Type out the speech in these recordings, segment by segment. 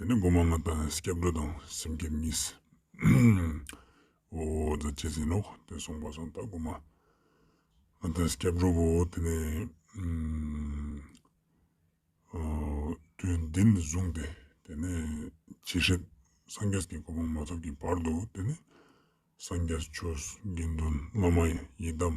དེ་ནི་སྒོ་མང་མ་དག་ནས་སྐྱབས་འགྲོ་དང་སེམས་བསྐྱེད་གཉིས། འོ་ད་ཇི་ཟིན་ནོ་དེ་གསུངས་པ་སོང་ད་སྒོ་མ་མ་དག་སྐྱབས་འགྲོ་བོ་དེ་ནི། དུས་འདི་ནས་བཟུང་སྟེ་དེ་ནས་ཇི་སྲིད་སངས་རྒྱས་ཀྱི་སྐུ་ཕུང་མ་ཐོབ་ཀྱི་བར་དུ་དེ་ནི་སངས་རྒྱས་ཆོས་དགེ་འདུན་བླ་མ་ཡི་དམ།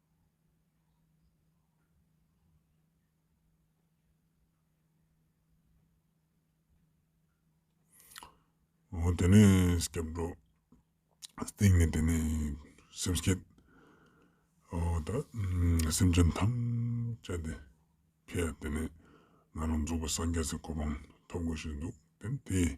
ཨོ་དེ་ནས་སྐྱབས་འགྲོ། སྟེང་ནས་དེ་ནས་སེམས་བསྐྱེད། ཨོ་ད་སེམས་ཅན་ཐམས་ཅད་དེ་ཁྱེད་དེ་ནས་ང་རང་རྫོགས་པའི་སངས་རྒྱས་ཀྱི་གོ་འཕང་ཐོབ་དགོས་ཞེས་འདུག་དེ་ནས་དེས།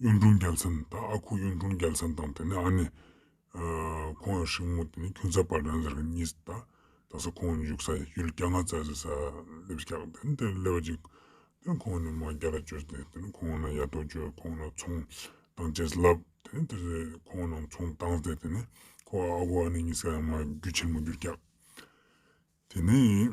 གཡུང་དྲུང་རྒྱལ་མཚན་ད་ཨ་ཁུ་གཡུང་དྲུང་རྒྱལ་མཚན་དང་དེ་ནས་ཨ་ནེ། ཁོང་ཡང་ཧྲིལ་མོ་དེ་ནས་ཁྱུང་ཚ་བ་དྲན་ཟེར་གི་གཉིས་ད་ད་ས་ཁོང་འཇུག་ས་ཡི་ཡུལ་སྐྱ་ང་རྩ་ཟེར་ས་སླེབས་སྐྱག་དེ་ནས་དེར་སླེབས་པ་ཅིག་དེ་ནས་ཁོང་ནས་མ་རྒྱ་ལ་བྱོས་ཏེ་དེ་ནས་ཁོང་ན་ཡ་ཐོག་བྱོས་ཁོང་ན་ཚོང་དང་བྱས་ཟེར་ལབ་དེ་ནས་དེར་ཁོང་ནང་ཚོང་བཏང་ཏེ་དེ་ནས་ཁོ་ཨ་ཁུ་ཨ་ནེ་གཉིས་ས་ཡང་མ་རྒྱུ་ཆེན་མོ་རྒྱུ་སྐྱག་དེ་ནས།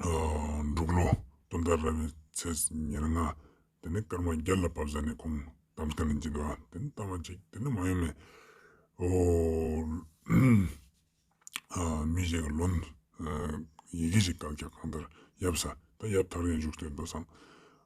འབྲུག་ལོ་སྟོང་དང་རེ་བའི་ཚེས་ཉེར་ལྔ་དེ་ནས་སྐར་མ་བརྒྱད་ལ་བབས་ས་ནས་ཁོང་དམ་སྐམ་ནས་འཇིགས་པ་དེ་ནི་ལྟ་བ་གཅིག་དེ་ནི་མ་ཡུམ་མེད་མི་ཞིག་གི་ལོ་ཡི་གེ་ཞིག་བཀག་རྒྱ་གང་ལྟར་ཡབ་ས་ད་ཡབ་ཐར་ཡང་བཞུགས་ཏེ་འདུག་བསམ།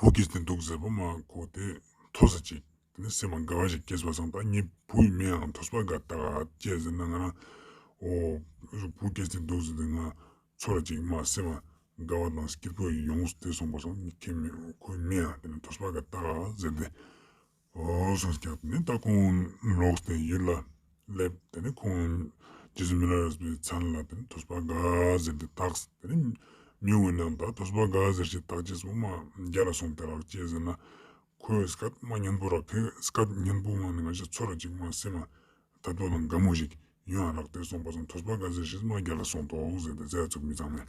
བུ་སྐྱེས་ཏེ་འདུག་ཟེར་བུ་མ་གོ་སྟེ་ཐོ་ས་ཅིག། དེ་ནས་སྲིད་མ་དགའ་བ་ཞིག་སྐྱེས་སོ་བཟང་བདག་ཉིད་བུ་ཡི་མིང་ཨང་ཐོ་ས་པ་ག་ད་ག་སྐྱེས་ཟེར་ན་ང་རང་ཨོ། བུ་སྐྱེས་ཏེ་འདུག་ཟེར་ཏེ་ང་ཚོ་ར་ཅིག་མ་སྲིད་མ་དགའ་བ་དང་སྐྱེས་བུ་ཡོངས་སུ་དེད་སོང་བ་བཟང་ཁྱེད་མི་ཁོའི་མིང་ཨང་དེ་ནས་ཐོ་ས་པ་ག་ད་ག་ཟེར་ཏེ། སོགས་ཀྱིས་བརྒྱབ་ནས་ད་ཁོང་ལོག་སྟེ་ཡུལ་ལ་སླེབས་དེ་ནས་ཁོང་རྗེས་སུ་མི་ལ་རེས་པའི་མཚན་ལ་དེ་ནས་ཐོས་པ་དགའ་ཟེར་གྱིས་བཏགས་དེ་ནས་མྱུར་བའི་ནང་དག་ཐོས་པ་དགའ་ཟེར་གྱིས་བཏགས་རྗེས་སུ་མ་རྒྱ་ལ་སོང་སྟེ་རག་ཅེས་ཟེར་ན་ཁོས་སྐད་མ་སྙན་པོ་རག་ཁོས་སྐད་སྙན་པོ་ངང་ནས་ང་ཞིག་འཚོལ་རོགས་ཅིག་མ་སེམས་ན་ད་དུ་ལང་དགའ་མོ་ཞིག་ཡོད་ཨང་རག་དེ་སོང་པ་སོང་ཐོས་པ་དགའ་ཟེར་གྱིས་མ་རྒྱ་ལ་སོང་དོགས་ཟེར་ཏེ་རྩལ་བཙུགས་མི་ཚང་མས།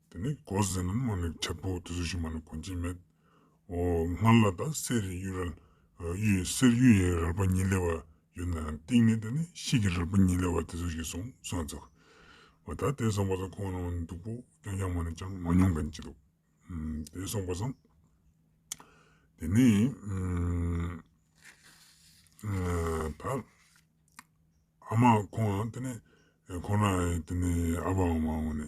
དེ་ནས་གོ་ཟེ་ནམ་མ་ནི་ཁྲེ་པོ་དེ་ཚོ་ཞིག་མ་ནི་གོ་འབྱེད་མེད། འོ་སྔར་ལ་དང་གསེར་རི་གཡུ་རལ། གསེར་གཡུ་ཡི་རལ་པ་གཉིས་ལེ་བ་ཡོད་ན་ཡང་སྟེང་ནས་དེ་ནི་ཤིག་གི་རལ་པ་གཉིས་ལེ་བ་དེ་ཚོ་ཞིག་སོང་སོང་ཙག། འོ་ད་དེ་སོང་པ་སོང་ཁོང་རང་ནི་འདུག་པོ་ཀྱང་ཀྱང་མ་ནི་ཅང་མ་མྱོང་གན་ཅི་འདུག། དེ་སོང་པ་སོང། དེ་ནས་ད་ཨ་མ་ཁོང་དེ་ནི་ཁོང་རང་དེ་ནི་ཨ་ཕའམ་མ་འོ་ནི་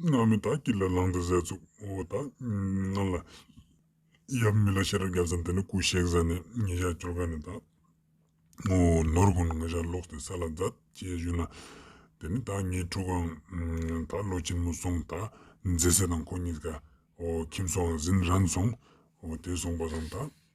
སྔགས་མི་དག་གིས་ལ་ལངས་ཏེ་ཟས་བཙུག། འོ་དག་ང་ལ། ཡབ་མི་ལ་ཤེས་རབ་བརྒྱ་ཙམ་དེ་ནས་སྐུ་གཤེགས་ས་ནས་ཉིན་ཞག་བཅོ་ལྔ་ནས་དག། ངོ་བོ་ནོར་བུ་ནང་ཤར་ལོགས་ཏེ་ས་ལ་འཛག་བཅས་བཞུགས་ན། དེ་ནས་དག་ཉིན་དྲུག་གམ། དག་ལོ་ཆེན་མོ་སོང་དག་མཛེ་སྲས་དང་ཁོ་གཉིས་ཀ། ཁྱིམ་སོང་ཟིན་རན་སོང། དེ་སོང་པ་དང་དག།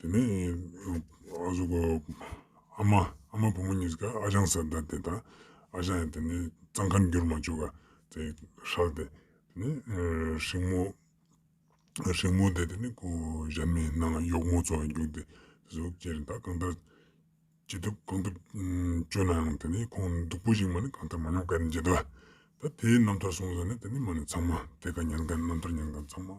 དེ་ནས་ཨ་ཟོ་ཀོ་ཨ་མ་ཨ་མ་བུ་མོ་གཉིས་ཀ་ཨ་ཅང་ཟེར་ཟླ་དེ་དང་ཨ་ཅང་ཡང་དེ་ནས་གཙང་ཁར་འགྱུར་མ་བཅུག་ག་དེ་ཧྲག་དེ་ནས་ཧྲིག་མོ་ཧྲིག་མོ་དེ་དེ་ནས་ཁོ་གཞན་མའི་ནང་ལ་གཡོག་མོ་ཚོ་ལ་འགྱུར་ཏེ་དེ་ཚོ་ཁྱེད་རང་ད་གང་ལྟར་ཅི་ཐུབ་གང་ཐུབ་བྱོས་ན་ཡང་དེ་ནས་ཁོང་སྡུག་པོ་ཞིག་མ་ནི་གང་ལྟར་མ་ཉོག་ག་ནི་བྱེད་དོ། ད་དེའི་རྣམ་ཐར་སོང་ཟེར་ནས་དེ་ནས་མ་ནི་ཚང་མ་དེ་ག་ཉན་ག་རྣམ་ཐར་ཉན་ག་ཚང་མ།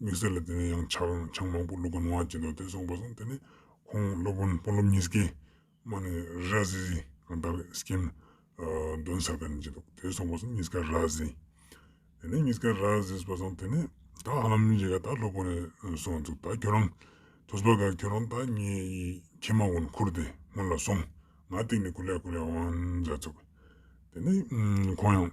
དམིགས་བསལ་ལ་དེ་ནས་ཡང་ཆག་ཆག་མང་པོ་བླུག་གོ་ནོ་ཅེས་འདུག་དེ་སོང་པ་སོང་དེ་ནས་ཁོང་སློབ་དཔོན་དཔོན་སློབ་གཉིས་ཀས་མ་ནི་ར་ཟི་ཟི་གང་ལྟར་སྐྱེམས་འདོན་ཟེར་ག་ནི་ཅེས་འདུག་དེ་སོང་པ་སོང་གཉིས་ཀ་ར་ཟི། དེ་ནས་གཉིས་ཀ་ར་ཟིས་པ་སོང་དེ་ནས་ད་ཧ་མི་ཅེས་ག་ད་སློབ་དཔོན་ནས་སོང་འདུག་ད་ཁྱོད་རང་ཐུ་སྦ་ག་ཁྱོད་རང་ད་ངའི་ཡི་གེ་མ་དབོན་འཁུར་ཏེ་སྔོན་ལ་སོང་ང་སྟེང་ནས་ཀུ་ལེ་ཀུ་ལེ་ཨང་ཅེས་འདུག་དེ་ནས་ཁོང་ཡང།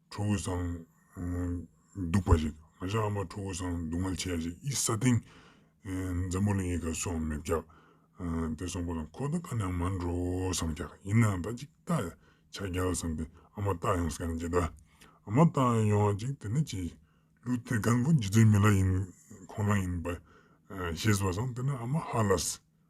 ཁྲོ་བོའི་གསང། གདུག་པ་ཞིག། ང་ཤ་ཨ་མ་ཁྲོ་བོའི་གསང། སྡུག་བསྔལ་ཆེ་བ་ཞིག་ཨི་ས་ཏིང། འཛམ་བུ་གླིང་ཡི་ག་སུའང་མི་བཀྱག། དེ་གསུངས་པ་དང་ཁོ་ད་ག་ནས་མ་འགྲོ་བསམ་ཀྱག་ཡིན་ནའང་ད་ཅིག་ལྟ། ཆ་རྒྱལ་བསམ་སྟེ་ཨ་མ་ལྟ་ཡོང་ཟེར་ན་ཅི་ལྟ། ཨ་མ་ལྟ་ཡོང་ཅིག་དེ་ནི་ཅི། ལུས་དེ་གང་པོ་རྗེ་བཙུན་མི་ལ་ཡིན་ཁོང་ལ་ཡིན་པ། ཞེས་པ་བསམ་དེ་ན་ཨ་མ་ཧ་ལ།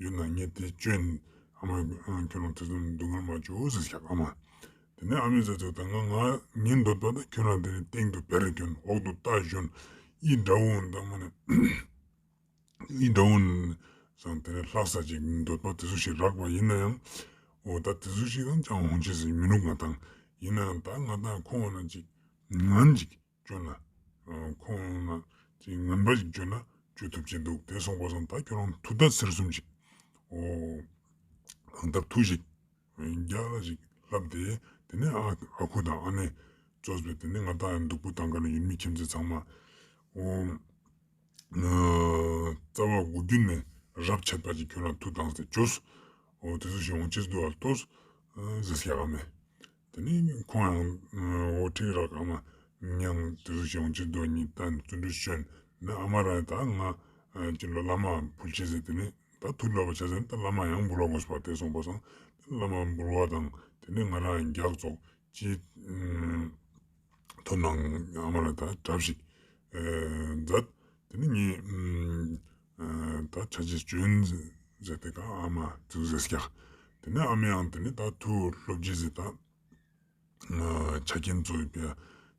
ཡུལ་ནང་ཉེ་དེ་བཅོན། ཨ་མ། ཁྱོད་རང་ཐུགས་དམ་སྡུག་བསྔལ་མ་བྱོས་ཨོ་ཟེར་བྱ། ཨ་མ། དེ་ནས་ཨ་མས་ཟེར་ཚུལ་ལྟར་ང་ང་ཉིད་འདོད་པ་དང་ཁྱོད་རང་དེ་ནས་སྟེང་དུ་བེར་གྱོན་འོག་ཏུ་རྟ་བཞོན། ཨི་དགྲ་བོ་འདི་ཨ་མ་ནི། ཨི་དགྲ་བོ་ནི། བཟང་དེ་ནས་ལྷག་ས་ཅིག་འདོད་པ་དེ་སུ་ཞིག་རག་པ་ཡིན་ན་ཡང། འོ་ད་དེ་སུ་ཞིག་དང་ཅང་ཧོང་ཆེ་ཟིག་མི་འདུག་ང་དང། ཡིན་ན་ཡང་ད་ང་དང་ཁོ་བ་ན་ཅིག། ང་ཅིག། བརྗོད་ན། ཁོང་རྣམས་ཀྱིས་ངན་པ་ཞིག་བརྗོད་ན་བརྗོད་ཐུབ་ཀྱིན་འདུག་དེ་སོང་བ་སོང་ད་ཁྱོད་རང་ཐུགས་ཐག་ཚེར་གསུམ་ཞིག་གང་ཐབས་ཐུགས་ཞིག་རྒྱག་ལ་ཞིག་ལབ་དེ་དེ་ནས་ཨ་ཁུ་དང་ཨ་ནེ་ཙོ་ཙོ་དེ་ནས་ང་ད་འདུག་པོ་ད་ག་ནས་ཡོད་མི་ཁྱིམ་མཚེས་ཚང་མ་རྩ་བ་དགུ་བརྒྱུད་ནས་རབ་ཆད་པ་ཞིག་ཁྱོད་རང་ཐུགས་དང་ཟེར་བྱོས་སོ་དེ་ཚོ་ཞིག་འོང་ཆེད་དུ་ཨ་ལྟོ་ཟེར་ཞག་ག་མེད་དེ་ནས་ཁོང་ཡང་འོ་ཁྲིག་ར་ག་མ་ཉང་དུ་ཞོང་ཆེན་རྡོ་གཉིས་རྟ་བཙུན་དྲུག་བྱོན་ནས་ཨ་མ་རང་ད་ང་ཅི་ལོ་བླ་མ་འབུལ་བྱེད་ཟེར་དེ་ནས་ད་ཐུགས་ལོབས་པ་བྱ་ཟེར་ད་བླ་མ་ཡང་འབུལ་བ་དགོས་པ་དེ་སོང་པ་སོང་དེ་བླ་མ་འབུལ་བ་དང་དེ་ནས་ང་རང་རྒྱག་རྫོགས་ཅི་ཐུབ་ནང་ཨ་མ་རང་ད་གྲབས་ཤིག་མཛད་དེ་ནས་ངས་ད་ཆ་ཆེ་བྱོན་ཟེར་དེ་ག་ཨ་མ་ཐུགས་རྗེ་སྐྱ། དེ་ནས་ཨ་མའི་ཨང་དེ་ནི་ད་ཐུགས་སློབ་སྤྱི་ཟེར་ད། ཆ་རྐྱེན་གཙོ་ཡོད་པས་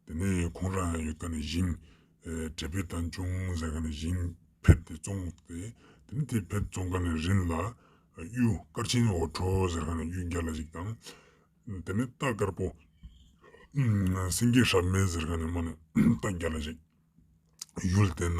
དེ་ནི་ཁོང་རང་ཡང་ཡོད་ད་ནི་བཞིན། དྲེལ་བུ་དང་ཅུང་ཟད་ག་ནི་བཞིན་ཕེབས་ཏེ་བཙོང་སྟེ་དེ་ནི་དེ་ཕེབས་བཙོང་ག་ནི་རིན་ལ། གཡུ་དཀར་ཆེན་འོ་ཁྲོ་ཟེར་ག་ནི་གཡུ་བརྒྱ་ལ་གཅིག་དང། དེ་ནི་རྟ་དཀར་པོ། སེང་གེ་ཧྲབ་མེད་ཟེར་ག་ནི་མ་ནི་རྟ་བརྒྱ་ལ་གཅིག། ཡུལ་དེ་ན།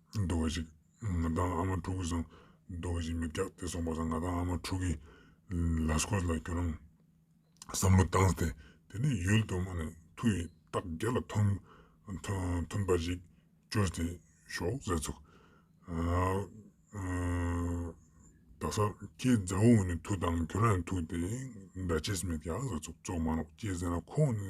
རྡོ་རྗེ། ང་དང་ཨ་མ་ཕྲུག་བཟང། རྡོ་རྗེ་མི་རྒྱག་དེ་སོང་བ་ཟ་ང་དང་ཨ་མ་ཕྲུག་གིས་ལ་སྐོར་ལ་ཁྱོད་རང་བསམ་བློ་བཏང་སྟེ་དེ་ནས་ཡུལ་དུ་མ་ནས་ཐུག་ཡིན་སྟག་རྒྱ་ལ་ཐོན་ཐོན་པ་ཞིག་བཅོས་ཏེ་ཞོག་ཟེར་ཚུགས། རྡ་ས་ཁྱེད་མཛའ་བོ་ངོས་ནས་ཐུག་དང་ཁྱོད་རང་ཡང་ཐུག་སྟེ་འདྲ་བྱེད་སེམས་མེད་ཀྱ་ཟེར་ཚུགས་བཙོག་མ་རོགས་ཁྱེད་ཟེར་ན་ཁོང་ནི་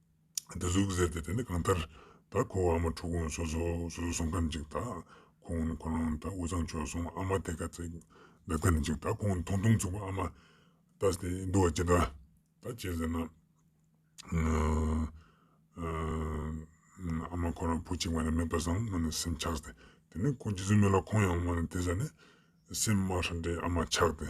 བདུད་གཟུགས་ཟེར་ཏེ་དེ་ནི་གང་ལྟར་ད་ཁོ་བོ་ཨ་མ་ཕྲུག་གུ་སོ་སོ་སོ་སོ་སོང་ཁ་ནི་ཅིག་ད་ཁོང་ནི་ཁོ་རང་ད་དབུས་གཙང་ཕྱོགས་སོང་ཨ་མ་དེ་ག་ཚད་འདོད་ཁ་ནི་ཅིག་ད་ཁོང་ནི་ཐུང་ཐུང་ཚུགས་པ་ཨ་མ་ད་དེ་འདུག་བ་ཅི་ད་ད་ཅི་ཟེར་ན་ཨ་མ་ཁོ་རང་བུ་གཅིག་མ་ནི་མེད་པ་བཟང་མ་ནི་སེམས་ཆགས་ཏེ་དེ་ནི་ཁོང་ཇི་སྲིད་མེད་ལ་ཁོང་ཡང་མ་ནི་དེ་ཟ་ནི་སེམས་དམར་ཧྲ་འདྲེ་ཨ་མ་ཆགས་ཏེ།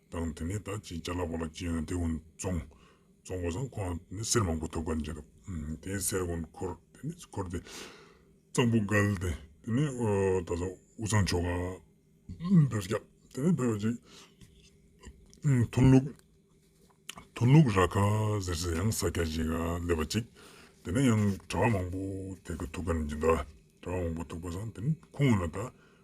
དང་དེ་ནས་ད་ཅི་བྱ་ལ་བ་ལ་ཅི་ཡོད་ན་དེ་ཀུན་བཙོང། བཙོང་བ་སང་ཁོ་ང་ནི་གསེར་མང་པོ་ཐོབ་ག་འཇིག་གདབ། དེའི་གསེར་ཀུན་འཁོར་དེ་ནས་འཁོར་ཏེ། གཙང་པོ་བཀལ་ཏེ་དེ་ནས་ད་ལ་འུ་ཚང་ཆོ་ག། འབེབས་རྒྱག་དེ་ནས་འབེབས་ཅིག། ཐུན་ལུགས། ཐུན་ལུགས་ར་ཁ་ཟེར་ཟེར་ཡང་ས་སྐྱ་ཞིག་སླེབ་པ་ཅིག། དེ་ནས་ཡང་གྲྭ་བ་མང་པོ་དེ་ཀུན་ཐུག་ག་འཇིག་གདབ། གྲྭ་བ་མང་པོ་ཐུག་པ་སང་དེ་ནས་ཁོ་ང་ན་ད།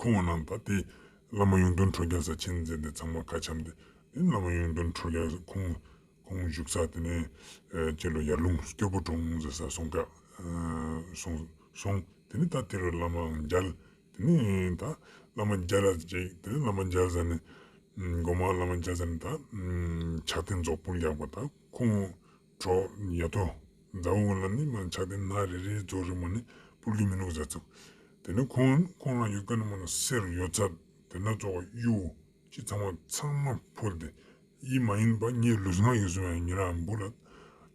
ཁོང་རྣམས་ད་ལྟའི་བླ་མ་གཡུང་དྲུང་ཁྲོ་རྒྱལ་ས་ཆེན་མཛད་དེ་ཚང་མ་ཁ་འཆམ་སྟེ་བླ་མ་གཡུང་དྲུང་ཁྲོ་རྒྱལ་ས་ཁོང་བཞུགས་ས་དེ་ནས་ཅི་ལོ་ཡར་ལུང་སྐྱོ་པོ་གྲོང་ཟེར་སར་སོང་སོང། དེ་ནས་ད་དེ་རུ་བླ་མ་མཇལ། དེ་ནས་ད་བླ་མ་མཇལ་ལ་ཅིག་དེ་ནས་བླ་མ་མཇལ་ས་ནས་སྒོ་མང་བླ་མ་མཇལ་ས་ནས་ད་ཕྱག་རྟེན་རྫོགས་སྤུངས་རྒྱག་པ་ད་ཁོང། གྲོགས། ཉལ་ཐོ། མཛའ་བོ་ལ་ནི་མ་ཆགས་ཏེ་སྣ་རེ་རེའི་རྫོགས་རི་མོ་ནི་སྤུར་གྱི་མི་ནུབ་བཟའ་ཚབ། དེ་ནི་ཁོང། ཁོང་ལ་ཡོད་སྐད་ན་མ་ལ་གསེར་རུ་ཡོད་ཚབ། དེ་འདྲ་རྫོགས་པ་གཡུ། ཅི་ཚང་བ་ཚང་མ་འཕུར་ཏེ། ཡིད་མ་ཡིན་པ་ངའི་ལུས་ངག་ཡིད་སོང་བའི་ཉིན་རང་འབུར་ལ།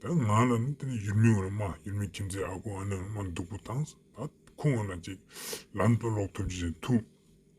དེ་ང་ལ་ནི་དེ་ནི་ཡུལ་མི་ངོ་ན་མ་ཡུལ་མི་ཁྱིམ་མཚེས་ཨ་ཁུ་ཨ་ནེ་ངོ་ན་མ་སྡུག་པོ་དང། ད་ཁོ་ངོ་ན་ཅིག། ལམ་དུ་ལོག་ཐུབ་ཅི་ཞིག་ཐུབ།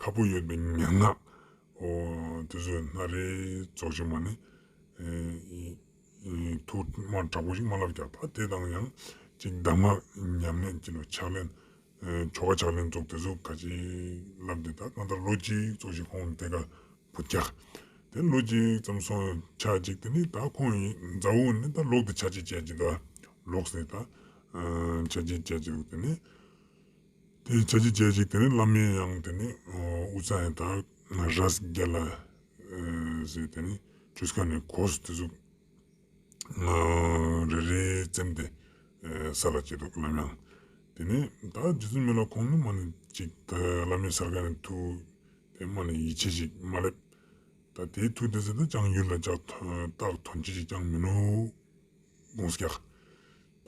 ཁ་པོ་ཡོད་པའི་མན་ངག། ཨོ། དེ་ཚོས་སྣ་རལ་རྫོགས་བྱེད་མ་ནི། ཐུར་མ་དྲག་པོ་ཞིག་མ་ལགས་ཀྱང་ཐ་དད་དང་ཡང་གཅིག་གདམས་ངག་ཉམས་ལེན་གྱི་ལོ་ཕྱག་ལེན། ཆོ་ག་ཕྱག་ལེན་རྫོགས་དེ་ཚོ་ག་ཅིག་བསླབས་ཏེ་ད་གང་ལྟར་ལོ་གཅིག་རྫོགས་ཤིག་ཁོང་དེ་ག་བུ་རྒྱག། དེ་ལོ་གཅིག་ཙམ་སོང་ཆ་གཅིག་དེ་ནི་ད་ཁོང་ཡི་མཛའ་བོ་ནི་ད་ལོག་དེ་ཆ་གཅིག་བྱས་ཀྱི་འདུག་ལོག་ཟེར་ད། ཆ་གཅིག་བྱས་ཀྱི་འདུག་དེ་ནི། དེའི་བྱ་བྱེད་སྤྱད་ཅིག་དེ་ནི་བླ་མའི་ཡང་དེ་ནི་ཨུ་ཙ་ཡཱ་དཱ་རཱས་བརྒྱད་ལ་ཟེར་དེ་ནི་ཆུ་སྐ་ནས་གོ་སོ་དེ་ཚོ་རེ་རེ་བཙེམ་སྟེ་ས་ལ་བསྐྱལ་འདུག་བླ་མའང་དེ་ནི་ད་རྗེ་བཙུན་མི་ལ་ཁོང་ནི་མ་ནི་ཅིག་ད་བླ་མའི་སར་ཁ་ནས་ཐུག་དེ་མ་ནི་ཡིད་ཆེས་ཤིག་མ་སླེབས་ད་དེའི་ཐུག་དེ་ཚོ་ད་ཅང་ཡུལ་ལ་བཅག་ཏག་དོན་ཅི་ཞིག་ཀྱང་མིན་ནོ། གདོང་སྐྱ།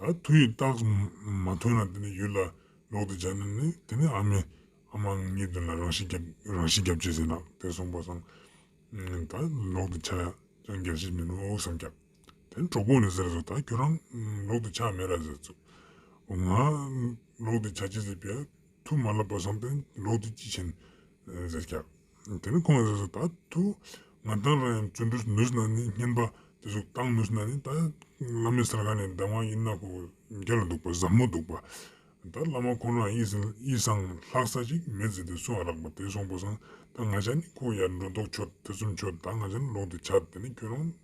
ད་དུས་ཡོད་རྟགས་མ་ཐོན་ན་དེ་ནི་ཡུལ་ལ་ལོག་སྟེ་བྱ་ནི་ནི་དེ་ནི་ཨ་མའི་ཨ་མ་ངའི་དོན་ལ་རང་བཞིན་རང་བཞིན་རྒྱབ་ཅེས་ཟེར་ན་དེ་སོང་པ་སང་ད་ལོག་ཏུ་ཆགས་ཀྱང་རྒྱབ་བྱེད་མི་འདུག་སང་རྒྱབ་དེ་གྲོགས་པོ་ནས་ཟེར་སོང་ད་ཁྱོད་རང་ལོག་ཏུ་ཆགས་མེད་ར་ཟེར་ཚུགས་འོ་ང་ལོག་ཏུ་ཆགས་ཅེས་ཟེར་པས་ཐུགས་མ་ལབ་པ་སང་དེ་ལོག་ཏུ་ཅི་བྱེད་ཟེར་རྒྱབ། དེ་ནི་ཁོང་གིས་བཟོས་ཟིན་ད་ཐུག་ང་དང་རང་ཡང་བརྩོན་འགྲུས་མེད་ཟིན་ན་ནི་བསྙེན་པ་དེ་ཚོ་བཏང་མེད་ཟིན་ན་ནི་ད་བླ་མའི་སར་ཁ་ནས་ཟླ་བ་ཡིན་ན་ཁོ་རྒྱ་ལ་འདུག་པ་ཟབ་མོ་འདུག་པ། ད་བླ་མ་ཁོང་རང་ཡིད་ཟིན་ཡིད་བཟང་ལྷག་ས་ཅིག་མེད་ཟེར་དེ་སོང་རག་པ་དེ་སོང་པོ་སང་ད་ང་ཅག་ནི་ཁོ་ཡར་འགྲོ་ལྡོག་ཆོད་ཐེ་ཚོམ་ཆོད་ད་ང་ཅག་ནི་ལོག་དེ་ཆགས་དེ་ནི་ཁྱོད་རང་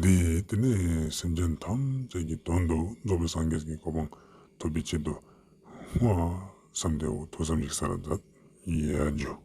འདིས་དེ་ནས་སེམས་ཅན་ཐམས་ཅད་ཀྱི་དོན་དུ་རྫོགས་པའི་སངས་རྒྱས་ཀྱི་གོ་འཕང་ཐོབ་པའི་ཆེད་དུ་བསྔོ་བསམ་དེ་འོ་ཐོག་ཙམ་ཞིག་ས་ལ་བརྫབ། བརྗོད།